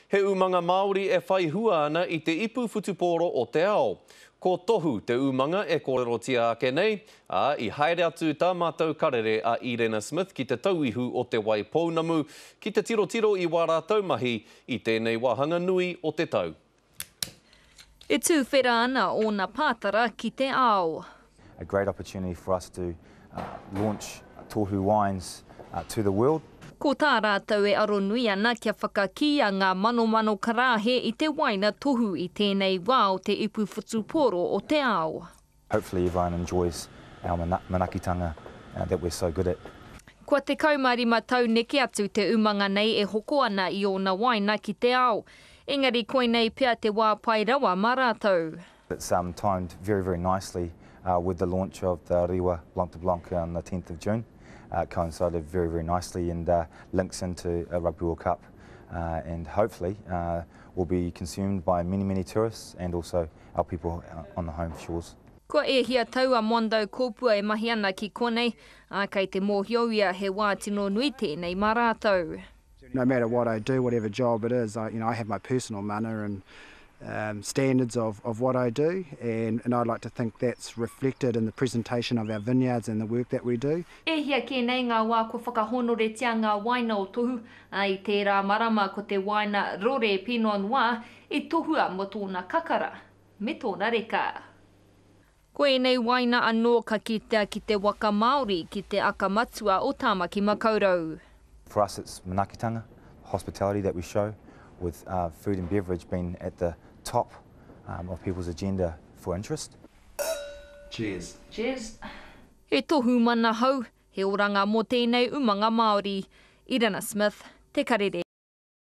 He umanga Māori e whai hua ana i te ipu whutupōro o te ao. Ko Tohu te umanga e kōrerotia ake nei, ā, i haere atu tā mātou karere a Irena Smith ki Te Tauihu o Te Wai Pounamu ki te tirotiro i wā rātou mahi i tēnei wāhanga nui o te tau. E tuwhera ana ōna pātara ki te ao. a great opportunity for us to launch Tohu wines to the world. Ko tā rātou e aro nui ana kia whakakīia ngā manomano karāhe i te waina tohu i tēnei wā o te ipu whutupōro o te ao. Hopefully everyone enjoys our manakitanga that we're so good at. Kua 15 tau neke atu te umanga nei e hoko ana i ōna wāina ki te ao. Engari koinei pea te wā pai rawa mā rātou. It's timed very very nicely with the launch of the Rewa Blanc de Blanc on the 10th of June. It coincided very very nicely and links into a Rugby World Cup and hopefully will be consumed by many many tourists and also our people on the home shores. Kua ēhia tau a Mondo Kopua e mahi ana ki konei, ā, kei te mōhio ia he wā tino nui tēnei mā rātou. No matter what I do, whatever job it is, I, you know, I have my personal mana and um, standards of, of what I do, and, and I like to think that's reflected in the presentation of our vineyards and the work that we do. E hia kē nei ngā wā kua whakahōnoretia ngā wāina o Tohu, ā, i tērā marama ko te wāina rore Pinot Noir I tohua mo tōna kakara me tōna reka. Ko ēnei waina anō ka kitea ki te waka Māori, ki te aka matua o Tāmaki Makaurau. For us it's manakitanga, hospitality that we show with food and beverage being at the top of people's agenda for interest. Cheers. Cheers. He tohu manahau, he oranga mō tēnei umanga Māori. Irina Smith, Te Karere.